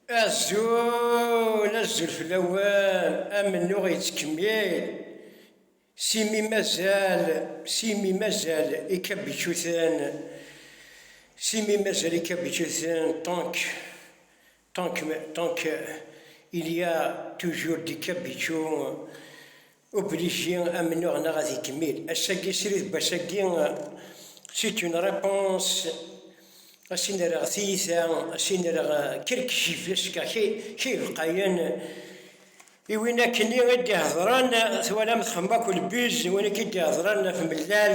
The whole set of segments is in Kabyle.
Azul, azul fell-awen, amennuɣ yettkemmil, s imi mazal, s imi mazal ikabičuten, s imi mazal ikabičuten, tant que, tant que, tant que il y a toujours des cabichons, Obligé amennuɣ neɣ ad ikemmil ass-agi srid n wass-agi c'est une réponse a s-in-rreɣ tiyita a s-in-rreɣ quelques gifles car kay lqayen i win akkenni i d-ihedren twalam txemma-k lbuz win akka i d-ihedren ɣef mellal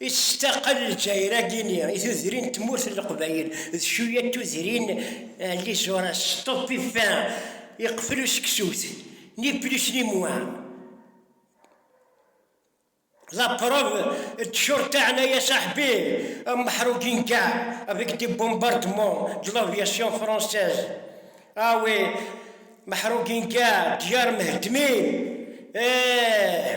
Ittestaqel Lezzayer agini i tudrin n tmurt n Leqbayel d cuya n tudrin n Lizores, Stop i fa iqfel useksut, ni plus ni moins. La preuve, d-curta ɛna ya saḥbi, un meḥruǧin ga avec des bombardements de l'aviation française. Ah oui, meḥruǧin ga, ddyaṛ mheddmin, eeh!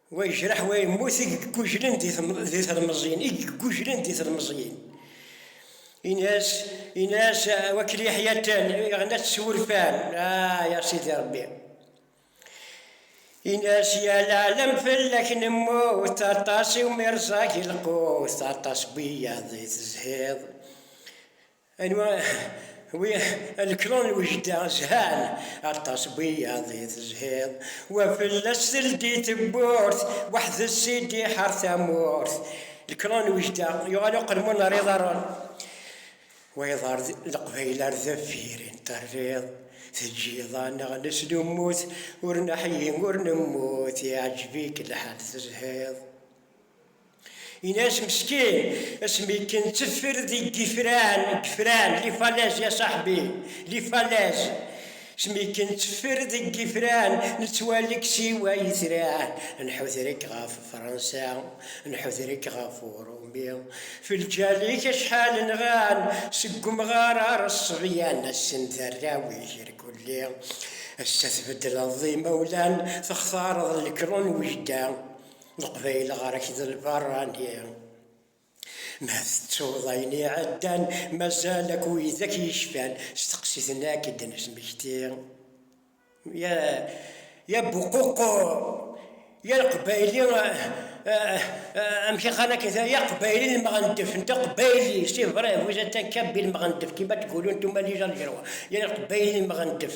Wa yejreḥ wa yemmut i yeggujlen di telmeẓyin, i yeggujlen di telmeẓyin. Ines, Ines, wakli ḥyatan, iɣnat s wurfan, ah, ya sidi Rebbi. Ines, ya lɛalam fell-ak nemmut, aṭas i umirẓag ilqut, aṭas wiyaḍ i tezhiḍ. Anwa wi alklon n ujdaɣ zhan aṭas wiyaḍ i tezhiḍ wa fell-as teldi tewwurt weḥd-s i d-iḥar tamurt lklon n ujdaɣ yuɣal uqelmun ar iḍarren wayeḍ ar leqbayel ar deffir i n-terriḍ teǧǧiḍ-aneɣ neslummut ur neḥyi ur nemmut iɛǧeb-ik lḥal tezhiḍ. Inas meskin, asmi ken teffer deg yifran, deg yifran, li falaises ya saḥbi, li falaises, asmi ken teffer deg yifran, nettwali-k siwa yitran, nḥuder-ik ɣef Fransa, nḥuder-ik ɣef Urumi, f lǧal-ik acḥal nɣan, seg umɣar ar ṣṣebyan, assen d arraw-ik irkelli, ass-a tbeddleḍ d imawlan, textareḍ lekru n wejda. Leqbayel ɣer-k d lbarrani. Ma tettuḍ ayen iɛeddan, mazal akk widak yecfan, steqsi-ten akk i d-nesmekti. Ya, ya Buququ, ya Leqbayli, amek i qqaren akken, ya Qbayli n Lmeɣendef, netta Qbayli, c'est vrai, vous êtes un Kabyle Meɣendef, kima tgulun tumaliz algerwa, ya Leqbayli n Lmeɣendef.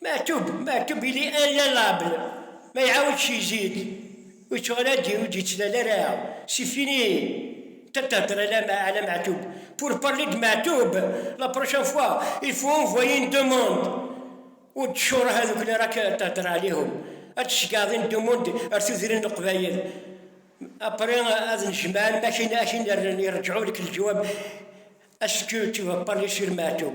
Mektub, mektub ili anlabel, ma iɛawed cizid, ur yettuɣal ara d-iru, ur d-yettlal ara, c'est fini, tant thedder ala ma ala mektub, pour parler de mektub, la prochaine fois il faut envoyer une demande, ur d-tcureɛ tadukli ara k-thedder ɛlihum, ad d-tceggɛeḍ une demande ar tudrin n leqbayel, après ad nejmaɛen ma akin ad k-in-rren, irǧɛu lek leǧwab, est-ce que tu vas parler sur mektub?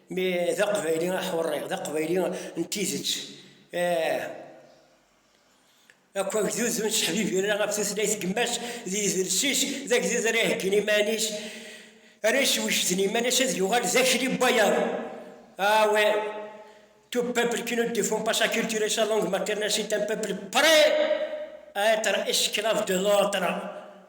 Mi d aqbayli aḥurri, d aqbayli n tidet. Ah! Akk agdud ur nettḥebibir ɣef tutlayt n yemma-s d yidles-is, d agdud ara iheggin iman-is, ara yeswejden iman-is ad yuɣal d akli n wayeḍ. Ah oui! Tout peuple qui ne défend pas sa culture et sa langue maternelle c'est un peuple prêt à être esclave de l'autre.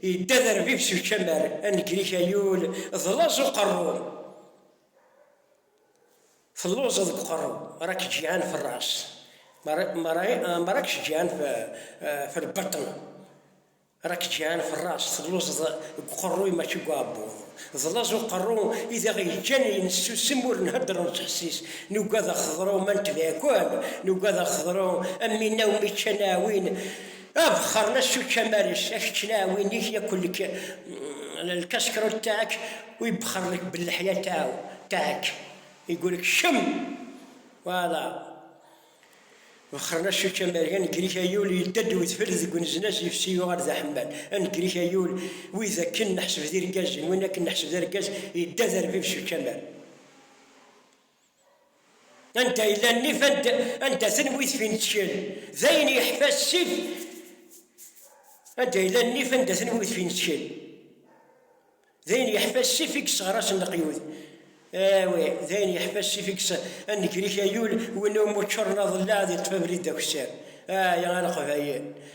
Yedda d arbib s ucamar, anegrik ayul d laẓ uqerruy. Telluẓeḍ deg uqerru, rak ǧǧiɛan f ras, ma rak ǧǧiɛan f lbaṭṭen. Rak ǧǧiɛan f ras, telluẓeḍ deg uqerruy mačči deg uɛebbuḍ. D laẓ uqerru i d aɣ-yeǧǧan nessusem ur nhedder ur nettḥessis, nugad ad xeḍru ma netbeɛ kan, nugad ad xeḍru am winna umi ččan aɛwin, Abexxer n ass ucamaris, a kečč laɛwin-ik yakk lek lkaskrot taɛk u yebexxer lek belleḥya taɛw taɛk igul kcem wala bexxer n ass ucamaris, a negri-k ay ul yedda-d wedfel deg uneznaz yefsi yuɣal d aḥemmal, a negri-k ay ul wid akken neḥseb d irgazen, win akken neḥseb d argaz yedda d arbib s ucamar. anda yella nnif anda, anda tenwi tfinetcel d ayen yeḥfa ssif anda yella nnif anda tenwi tfinetcel d ayen yeḥfa ssif i yesseɣrasen leqyud awi d ayen yeḥfa ssif i yesseɣrasen ayul win umi ččuren aḍellaɛ di ṭṭfabrid d akessar ay a leqbayel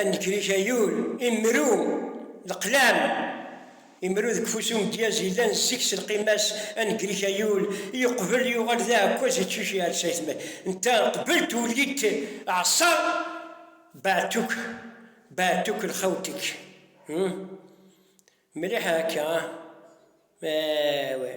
Anekrik ayul, imru, leqlam. Imru deg ufus umedyaz yellan zik s lqima-s, anekrik ayul, yeqbel yuɣal d aɛekkaz iččuc yeɛles ayetma-s. Netta qbel tuli-t ɛṣa baɛtuk, baɛtuk lxawtek. Mliḥ akka? Awah.